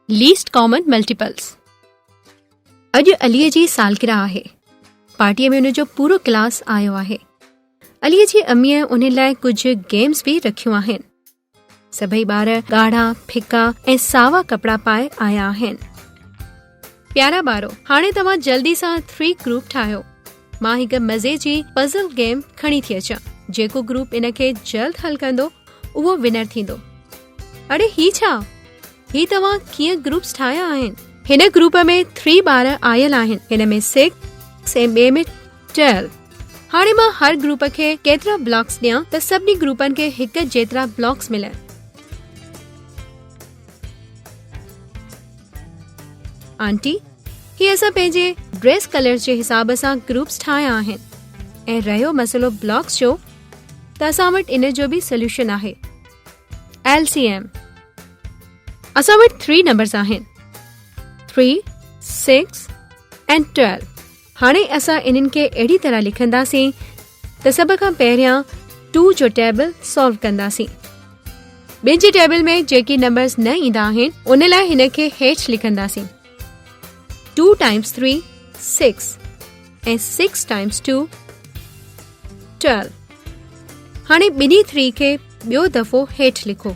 Least common multiples اڄ علي جي سالگرهه آهي پارٽي ۾ ان جو پورو ڪلاس آيو آهي علي جي امي ان لاء ڪجهه گيمز به رکيون آهن سڀئي ٻار ڳاڙها ڦڪا ۽ ساوا ڪپڙا پائي آيا آهن پيارا ٻارو هاڻي توهان جلدي سان ٿري گروپ ٺاهيو مان هڪ مزي جي پزل گيم کڻي ٿي اچان جيڪو گروپ ان کي جلد حل ڪندو اهو ونر ٿيندو اڙي هي ڇا هي توهان ڪيئن گروپس ٺاهيا آهن هن گروپ ۾ ٿري ٻار آيل آهن هن ۾ سڪس ۽ ٻئي ۾ ٽويلو هاڻي مان هر گروپ کي ڪيترا بلاڪس ڏيان ته سڀني گروپن کي هڪ جيترا بلاڪس ملن آنٽي هي اسان پنهنجي ڊريس ڪلر جي حساب سان گروپس ٺاهيا آهن ۽ رهيو مسئلو بلاڪس جو ته اسان وٽ ان جو به سوليوشن آهي ايل سي ايم اسان وٽ ٿري نمبرس آهن ٿري سڪس ٽويلو هاڻي اسان انهن کي اهڙي طرح لکنداسين ته سڀ کان پهريان ٽو جو ٽيبل سالو ڪنداسين ٻن جي ٽيبل ۾ جيڪي نمبرز نه ايندا آهن ان لاء هن کي هيٺ لکنداسين two times three six ۽ six times two twelve هاڻي ٻنهي ٿري کي ٻيو دفعو هيٺ لکو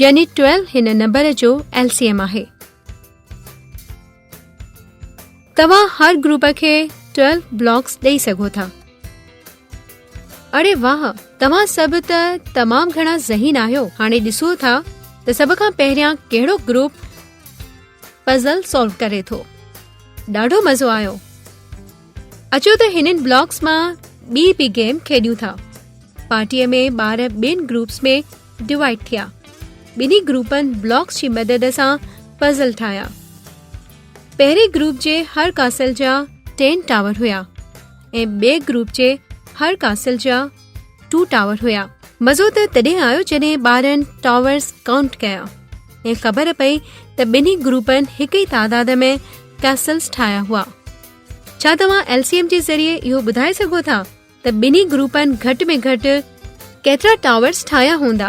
يعني ٽويلو هن نمبر جو ايل سي ايم آهي توهان هر گروپ کي ٽويلو بلاڪس ڏئي سگهو ٿا اڙي واهه توهان سڀ ته تمام گهڻا ذهين آهيو هاڻي ڏسو ٿا ته سڀ کان پهريان ڪهڙو گروپ پزل سالو ڪري ٿو ڏاڍو مزو آيو اچو ته هنن بلاڪس مان ٻي به گيم کيڏيون ٿا پارٽيء ۾ ٻار ٻين گروپس ۾ ڊوائيڊ ٿيا. ٻنهي گروپن بلاڪس جي مدد سان پزل ٺاهيا. پهرين گروپ جي هر ڪاسل جا ٽين ٽاور هيا ۽ ٻئي گروپ جي هر ڪاسل جا ٽو ٽاور هيا. مزو ته تڏهن آيو جڏهن ٻارن ٽاورز ڪائونٽ ڪيا ۽ خبر پئي ته ٻنهي گروپن هڪ ئي تعداد ۾ ڪاسلز ٺاهيا هئا. ڇا توهان LCM جي ذريعي اهو ٻڌائي سگهو ٿا ته ٻنهي گروپن گهٽ ۾ گهٽ ڪيترا ٽاورس ٺاهيا هوندا؟